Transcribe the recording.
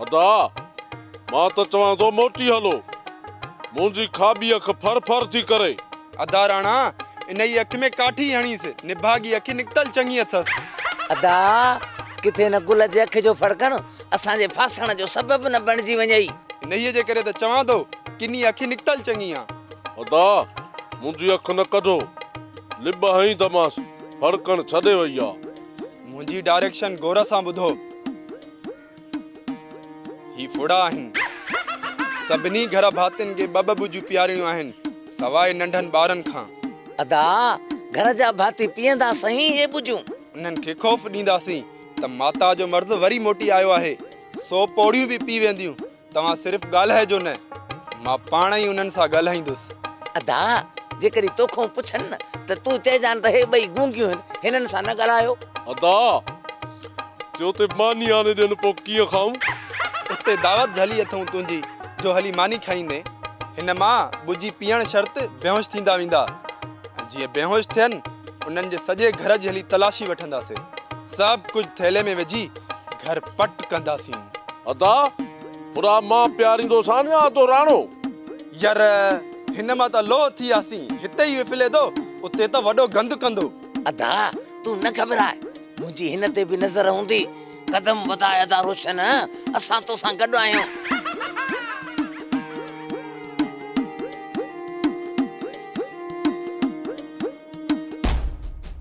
ادا! مان ته چوان ٿو موٽي هلو. منهنجي کاٻي اک ڦر ڦر ٿي ڪري. ادا راڻا! انهيء اک ۾ ڪاٺي هڻيس. نڀاڳي اک نڪتل چڱي اٿس. ادا! ڪٿي هن گل جي اک جو ڦڙڪڻ اسان جي ڦاسڻ جو سبب نه بڻجي وڃئي. انهيء جي ڪري ته چوان ٿو، ڪني اک نڪتل چڱي آ. ادا! منهنجي اک نه ڪڍو. لٻ هنئي ته مانس ڦڙڪڻ ڇڏي وئي آ. منهنجي ڊائريڪشن غور سان ٻڌو. هي ڦڙا آهن. سڀني گهر ڀاتين کي ٻه ٻه ٻجون پيارڻيون آهن، سواء ننڍن ٻارن کان. ادا، گهر جا ڀاتي پيئندا سهين هي ٻجون. انهن کي خوف ڏينداسين ته ماتا جو مرض وري موٽي آيو آهي، سو پوڙهيون به پي وينديون. توهان صرف ڳالهائجو نه، مان پاڻ ئي انهن سان ڳالهائيندس. ادا! جيڪڏهن توکون پڇن نه ته تون چئجان ته هي ٻئي گونگيون هن، هنن سان نه ڳالهايو. ادا! جي اتي ماني آڻي ڏين پوء ڪيئن کائون؟ اتي دعوت جهلي اٿئون تنهنجي جو هلي ماني کائيندين. هن مان ٻجهي پيئڻ شرط بيهوش ٿيندا ويندا ۽ جيئن بيهوش ٿين انهن جي سڄي گهر جي هلي تلاشي وٺنداسين. سڀ ڪجهه ٿيلهي ۾ وجهي گهر پٽ ڪنداسين. ادا پورا مان پياريندوسان يا ادو راڻو. ير هن مان ته لوهه ٿي آسين هتي ئي وڦلي دو اتي ته وڏو گند ڪندو. ادا تون نه گهٻراء منهنجي هن تي به نظر هوندي قدم وڌاء ادا روشن اسان توسان گڏ آهيون.